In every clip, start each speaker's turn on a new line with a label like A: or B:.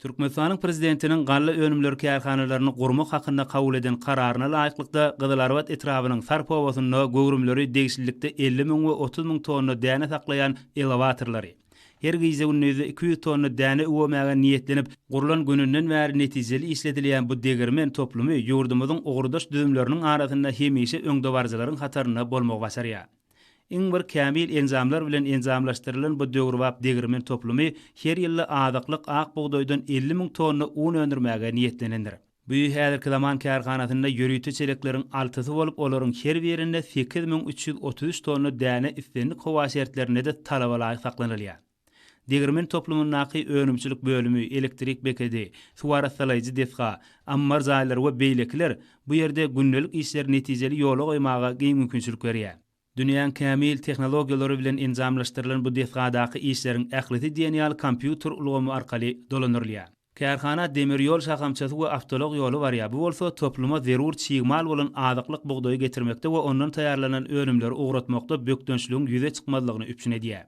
A: Türkmenistanyň Prezidentiniň galla önümleri kärhanalaryny gurmak hakynda kabul eden Kararyna laýyklykda, Gyzylarbat etrabynyň Sarp obasynda göwrümleri degişlilikde elli müň we otuz müň tonna däne saklaýan elewatorlary, her gije-gündizde iki ýüz tonna däne üwmemäge niýetlenip, gurlan gününden bäri netijeli işledilýän bu degirmen toplumy ýurdumyzyň ugurdaş düzümleriniň arasynda hemişe öňdebaryjylaryň hatarynda bolmagy başarýar. Iň bir kämil enjamlar bilen enjamlaşdyrylan bu döwrebap degirmen toplumy her ýylda azyklyk ak bugdaýdan elli müň tonna un öndürmäge niýetlenendir. Bu häzirki zaman kärhanasynda ýörite çelekleriň altysy bolup, olaryň her birinde sekiz müň üç ýüz otuz üç tonna däne islendik howa şertlerinde-de talaba laýyk saklanylýar. Degirmen toplumyndaky önümçilik bölümi, elektrik bekedi, suwarassalaýjy desga, ammar jaýlary we beýlekiler bu ýerde gündelik işleri netijeli ýola goýmaga giň mümkinçilik berýär. Dünýäň kämil tehnologiýalary bilen enjamlaşdyrylan bu desgadaky işleriň ählisi diýen ýaly kompýuter ulgamy arkaly dolandyrylýar. Kärhana demir ýol şahamçasy we awtoulag ýoly barýar, bu bolsa topluma zerur çig mal bolan azyklyk bugdaýy getirmekde we ondan taýýarlanan önümleri ugratmakda bökdençligiň ýüze çykmazlygyny üpjün edýär.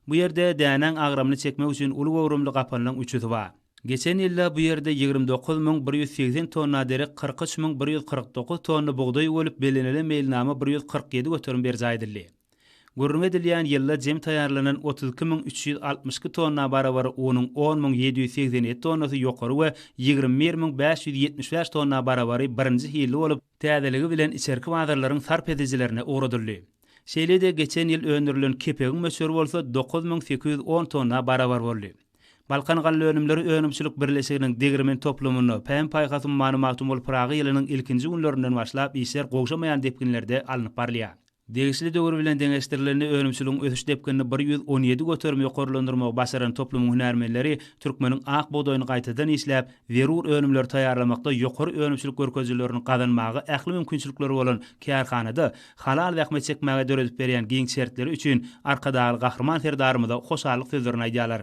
A: Bu ýerde dänäň agramyny çekmek üçin uly göwrümli gapanlaň üçüsi bar. Geçen ýylda bu ýerde ýigrimi dokuz müň bir ýüz segsen tonna derek, kyrk üç müň bir ýüz kyrk dokuz tonna bugdaý öwülip, bellenilen meýilnama bir ýüz kyrk ýedi göterim berjaý edildi. Gürrüňi edilýän ýylda jem taýýarlanan otuz iki müň üç ýüz altmyş iki tonna barabar unuň on müň ýedi ýüz segsen ýedi tonnasy ýokary we ýigrimi bir müň bäş ýüz ýetmiş bäş tonna barabary birinji hilli bolup, täzeligi bilen içerki bazarlaryň sarp edijilerine ugradyldy. Şeýle-de geçen ýyl öndürilen kepegiň möçberi bolsa dokuz müň sekiz ýüz on tonna barabar boldy. Balkan galla önümleri önümçilik birleşiginiň degirmen toplumynda Pähim-paýhas ummany Magtymguly Pyragy ýylynyň ilkinji günlerinden başlap işler gowşamaýan depginlerde alnyp barylýar. Degişli döwür bilen deňeşdirilende önümçiligiň ösüş depginini bir ýüz on ýedi göterim ýokarlandyrmagy başaran toplumyň hünärmenleri türkmeniň ak bugdaýyny gaýtadan işläp, zerur önümleri taýýarlamakda ýokary önümçilik görkezijilerini gazanmaga ähli mümkinçilikleri bolan kärhanada halal zähmet çekmäge döredip berýän giň şertleri üçin Arkadagly Gahryman Serdarymyza hoşallyk sözlerini aýdýarlar.